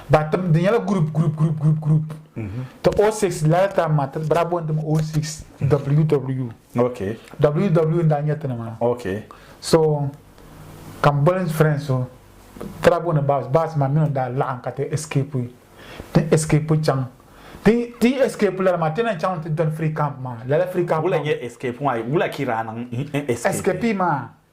Ba tim di nyɛla group group group group group. Ti O six lala time maa ti bira bɔn tim O six WW. Okay. WW n daa nyɛ ti ni maa. Okay. So ka m boli friend so tira bɔni baas baas maa mini daa laɣim ka ti escape ti escape chaŋ ti ti escape lala maa ti na chaŋ ti doli free camp maa lala free camp. Wula nyɛ escape maa wula ki daa niŋ escape. Escape maa.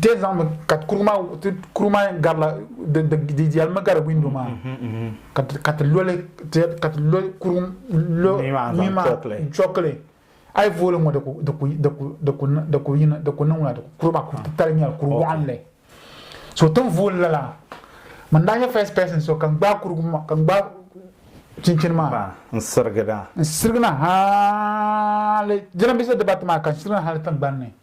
Te zaŋ mi ka kuru maa kuru maa garila di yɛli mi gari windo maa ka ti loli ka ti loli kuru lo mi maa chɔkili a yi vooli ŋɔ di ku niŋla kuru maa kuru titali nyɛla kuru waɣinli so tin vooli la la man daa nyɛ first person so kan gbaai kuru kan gbaai chinchini maa n sirigida n sirigina hali jiranbiisa dibati maa kan sirigina hali tingbanni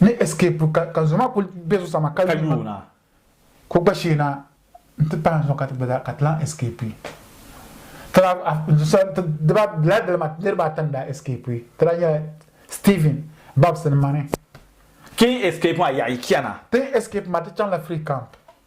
ni escape ka ka zoma kuli be zuɣusaa maa ka yuuna ka o gba sheena n ti pahi zuɣu ka ti gba ka ti lan escape tala diba lala dali maa niriba ata n daa escape tala nyɛla Steven Babs ni mani King escape maa yaɣi chana tin escape maa ti chaŋla free camp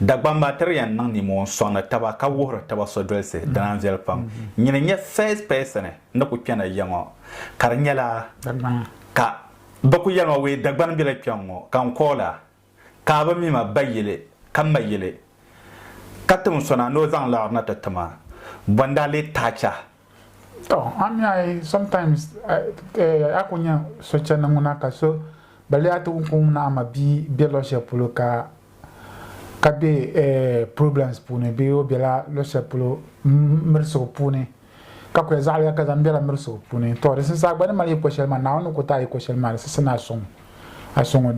Dagbam maa tiri yan niŋ nimohi n sɔŋdi taba ka wuhiri taba sodolisi dina n viɛli pam. Nyini n nyɛ first person ni ku kpɛna ya ŋɔ ka di nyɛla ka bɛ ku yɛli ma wee Dagbani bela kpɛŋ ŋɔ ka n call a ka a bi mi ma ba yili ka ma yili ka tim sɔna ni o zaŋ laɣiri na ti ti ma bɔ n daa lee taɣi chahi To a mi a yi sometimes eh, a ku nya so chani ŋuna ka so ba lihi a ti kum ni a ma bia be luɣ shɛli polo ka ka be eh, problems puuni bee o bela luɣ shɛli polo mirisigu puuni ka ku ya zaɣiliya ka zaŋ bela mirisigu puuni to di sinsi a gba ni mali yiko shɛli maa Naawuni ni ku ti a yiko shɛli maa di sinsi ni a suŋ a soŋɔ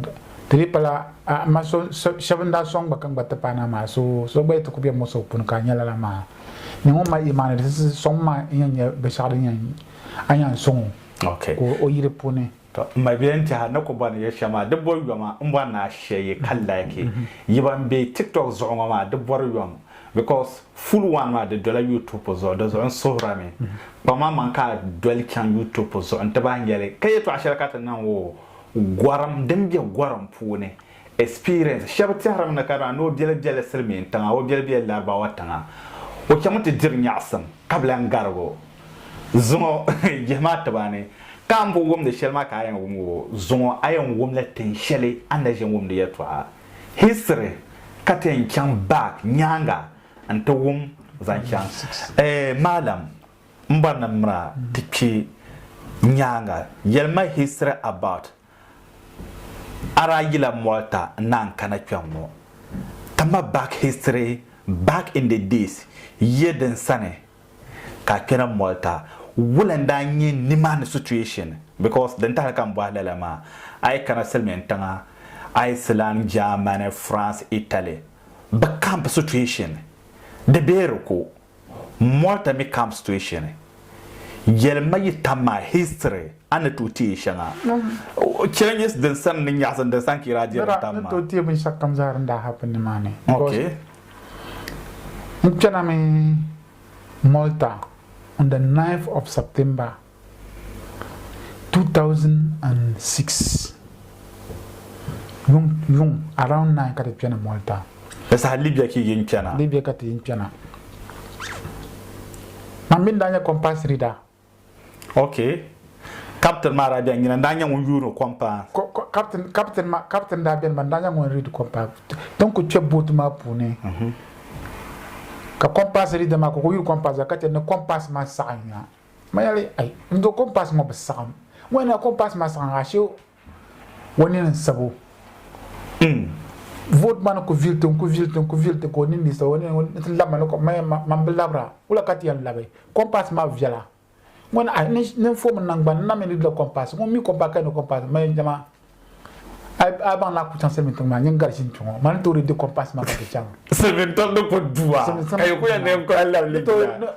ti di pala a ma so shɛba n-daa soŋ gba ka n gba ti pahi na maa so so gba yi ti ku bɛ mo so puuni ka a nya lala maa ni ŋun mali imaani di si soŋ ma n yɛn nya binshɛɣu din yɛn a yɛn soŋ o ka o yili puuni. To m ma bɛn tɛha ni ku bɔni ya shɛm maa di bo yoma n bɔri ni a shɛ yi ka like yi ban bɛ tiktok zuɣu ŋɔ maa di bɔri yom because Full one maa di dola YouTube zuɣu di zuɣu n suhira mi kpaŋ maa maŋ ka a doli chaŋ YouTube zuɣu n ti bahi nyɛli ka yɛtɔɣa shɛli ka ti niŋ o gɔrim din be gɔrim puuni experience shɛba tɛhirimi ni ka daa ni o biɛli biɛli silimiin tiŋa o biɛli biɛli Larabawa tiŋa o chaŋmi ti diri nyaɣisim ka bi lan garig o zuŋɔ jihi maa tiba ni ka a ni bo wumdi shɛli maa ka a yɛn wum o zuŋɔ a yɛn wumla tin shɛli a ni daa ʒe wumdi yɛtɔɣa history ka ti yɛn chaŋ back nyaaŋa n ti wum zaŋ chaŋ eh maalam m bɔri ni mira ti kpi nyaaŋa yɛli ma history about a daa yila Malta n naan kana kpɛŋ ŋɔ ti ma back history back in the days yiya din sani ka a kpɛra moli ka wula n daa nyɛ nimaani situation because din tahili ka n bɔhi lala maa a yi kana silimiin tiŋa Iceland, Germany, France, Italy bɛ camp situation di bee di ku molta mi camp situation yɛli ma yi tam maa history a ni tooi teei shɛŋa changes din sani ni nyaɣisim din sani ka yi daa di din tam maa. Ni tooi teei binshɛɣu kam zaa din daa happen nimaani. N kpɛna mi Malta on the 9th of September 2006 yuŋ yuŋ around 9 ka ti kpɛna Malta Di saha Libya ka yi kpɛna. Libya ka ti yin kpɛna. Man mi n-daa nyɛ compass reader Ok, kaptin maa daa beni nyina n-daa nyɛ ŋun yuuni kom paa. Kaptin, kaptin maa, kaptin daa beni maa n-daa nyɛ ŋun riidi kom paa. Ti ni ku kpe booti maa puuni ka kompaasi riida maa ka o ku yuui kompaasi maa ka che ni kompaasi maa saɣim ya. Ma yɛli, Ai, n-do kompaasi ŋɔ bi saɣim. Ŋɔ yɛn niŋ ya kompaasi maa saɣim ya ashe O nini n sabo. N vote maa ni ku vili ti, n ku vili ti, n ku vili ti ka o nini dii sabo. O nini ŋɔ ni ti lab ma ni kom maya ma, man bi labira. Wula ka ti yɛn labi? Compass maa viɛla. Ŋɔ ni ayi ni n fomi naŋgbani n na mi lidila compass. Ŋun mi compass ka yɛn ni compass maya dama a baŋ ni a ku chaŋ silimiin tiŋ maa nyin garisi n-kpi ŋɔ. Ma ni tooi di compass maa ka ti chaŋ. Silimiin tiŋ ni ku du a ka yi ku yɛn ni yɛn kuli a lab lidila.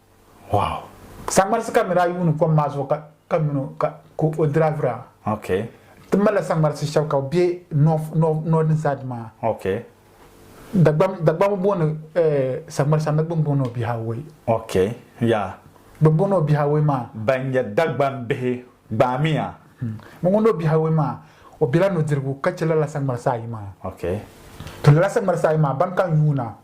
Wow. Saŋmarisi ka nira yuuni kom maa zuɣu ka ka mini o ka ka o dravira. Okay. Ti malila saŋmarisi shɛba ka bɛ north north northern side maa. Okay. Dagbam dagbam booni eh saŋmarisi anabi bin booni o biha wei. Okay. Yeah. Bin booni o biha wei maa. Ban nyɛ dagbam bihi gbaamiya. Hmm. Bin booni o biha wei maa o bela nudirigu ka che lala saŋmarisi ayi maa. Okay. To lala saŋmarisi ayi maa ban kan yuuna.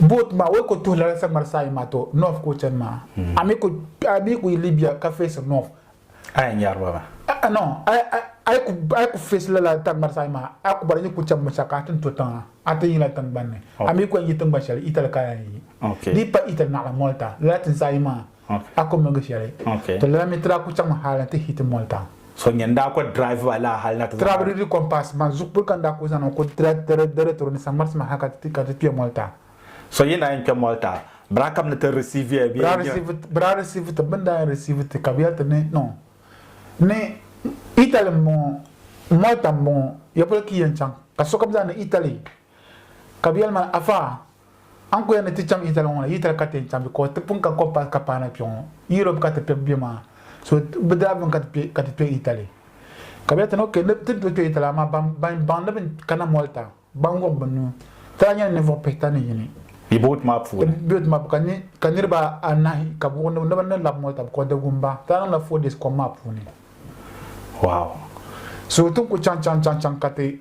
boat maa wai ko tuhi lala sagbari saayi maa to north ko chani maa hmm. ami ku ami ku libya ka face north aya nyariba ma a no ai ku ai ku face lala tagbari saayi maa a ku bari ni ku chani musa ka atin to tiŋa atin yila tingbanni ami ku yi tingban shɛli itali ka yi di pa itali naɣala malta lala tin saayi maa A ku miligi shɛli. Ti lala mi ti daa ku chaŋmi hal ni ti hi ti moli tam. So nyɛ n-daa ku drive ba laa hal na ti zaŋ. Ti daa bi di di compass maa zuɣu kpuli ka n daa ku zaŋ niŋ ko ti daa tiri di retro ni saŋmarisi maa hal ka ti ka ti kpe moli tam. So yi na yɛn kpe moli tam, bɛ daa kam ni ti receive ya bee? Bɛ daa receive bɛ daa receive ti. Bɛ ni daa yɛn receive ti ka bɛ yɛli ti ni no ni Italy m-bɔŋɔ moli tam m-bɔŋɔ ya polo ka yi yɛn chaŋ ka sokam zaa ni Italy Ka bɛ yɛli ma, Afa, a ni ku yɛli ni ti chaŋ yitali ŋɔ na, yitali ka ti yɛn chaŋ bɛ? Ka o ti pun ka kɔmpasi ka paana kpe ŋɔ. Yurop ka ti kpe be maa, so bɛ daa bemi ka ti kpe yitali. Ka bɛ yɛli, Tana, ok, ti ni tooi kpe yitali, amaa ban baŋ ni bɛ kana Mɔlta, ban wuɣi bɛ nuu, ti daa nyɛla ninvuɣ pihita ni yini. Yi boot maa puuni. Yi boot maa puuni, ka niriba anahi ka bɛ wuɣi ni bɛ ni lab Mɔlta, bikɔɔ di wum ba. Ti daa niŋla four days kom maa puuni. Wow! So ti ni ku chaŋ chaŋ chaŋ chaŋ ka ti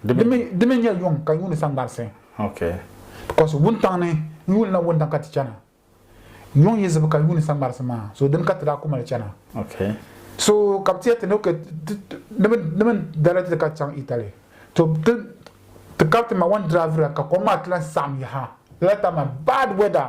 Di mi di mi nyɛ yuŋ ka yuuni sangbarisi. Okay. Because wuntaŋ ni n yuuli na wuntaŋ ka ti chana. Yuŋ yi zibi ka yuuni sangbarisi maa so dini ka ti daa ku mali chana. Okay. So ka bi ti yati ni okay di mi di mi dala dili ka ti chaŋ Italy to ti ti kariti ma one drive ra ka kom maa ti lan saɣim yaha lala time maa bad weather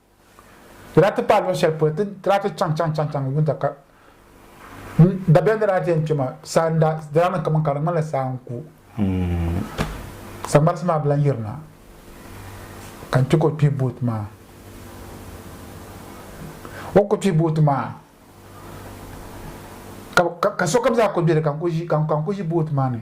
Di daa ti paai luɣ shɛli polo ti ni daa ti chaŋ chaŋ chaŋ chaŋ yuun ta ka dabiɛm ni daa ti yɛn kpe maa, saa n-daa di daa niŋ kaman ka di ŋmanila saa n-ku. Saŋmarisi maa bi lan yirina ka n chɛ ka o kpihi booti maa. O ni ku kpihi booti maa ka sokam zaa ku be di ka n ku ʒi booti maa ni.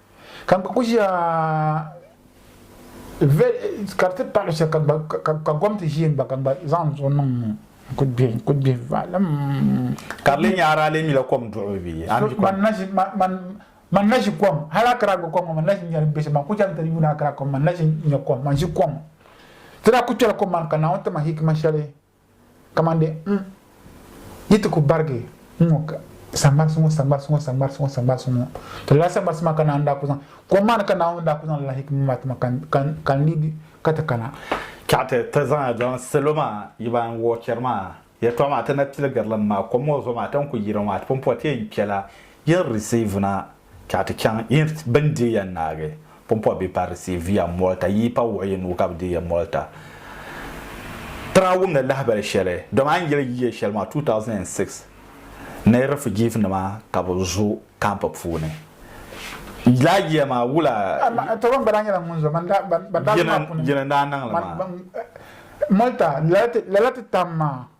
ka n gba ku ʒiya ka di ti paɣi shɛli ka gom ti ʒiɛ gba ka n gba zaŋ zuɣu niŋ ŋɔ n ku gbihi vaalim ka di lee nyɛ ara lee mila kom duɣu bi man na ʒi kom hali akira gba kom ŋɔ man na ʒi nyɛri bɛ shɛm man ku chɛŋ ti yuuni akira kom man na ʒi nyɛ kom man ʒi kom ti daa ku kpɛla kom maa ni ka Naawuni ti ma hikima shɛli kamande n yi ti ku barigi n ŋɔ saŋmarisi ŋɔ saŋmarisi ŋɔ saŋmarisi ŋɔ saŋmarisi ŋɔ ti lala saŋmarisi maa ka naan daa ku zaŋ kom maa ni ka naawuni daa ku zaŋ lala hikima maa tima ka n liigi ka ti kana ka ti ti zaŋ zaŋ salo maa yi ban wɔɔ chɛri maa yɛltɔɣa maa ti na piligirili maa kom ŋɔ zuɣu maa ti ni ku yiri ŋɔ maa ti pun pɔi ti yɛn kpɛla yɛn risiivina Chɛ a ti chaŋ yi ni bɛ ni deei ya naagi pumpɔri bee pari risiiv ya mɔlta, yi yi pa wuɣi yi nuu ka bɛ deei ya mɔlta. Tiŋa wumdi lahibali shɛli, dɔmi a ni yɛli yi ya shɛli maa, 2006 ni rifijiivinima ka bɛ zo kampu puuni. Lala yiya maa, wula yi ni daa niŋ li maa? Mɔlta, lala ti tam maa.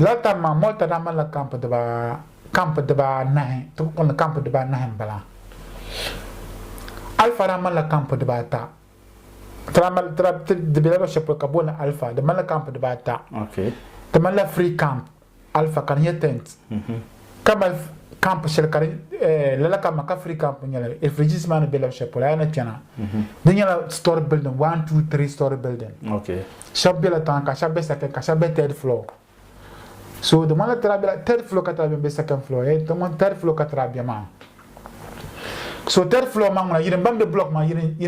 Lala tam maa, Murtada malila kampu dibaa kampu dibaa anahi ti ku kulli kampu dibaa anahi n bala. Alfa daa malila kampu dibaa ata. Ti daa mali ti daa ti di bela luɣu shɛli polo ka booni Alfa di malila kampu dibaa ata. Okay. Ti malila free camp Alfa ka di nyɛ tent. Ka mali camp shɛli ka di lala ka Maka Free Camp n-nyɛ li, refugees maa ni be luɣ shɛli polo a yi na kpɛna di nyɛla story building, one, two, three story building. Shɛba bela tiŋa ka shɛba be second ka shɛba be third floor. So di ŋmanila tira bela third floor ka tira be m-be second floor hee ti ŋun third floor ka tira be maa. So third floor maa ŋuna yiri m-ba m-be block maa yiri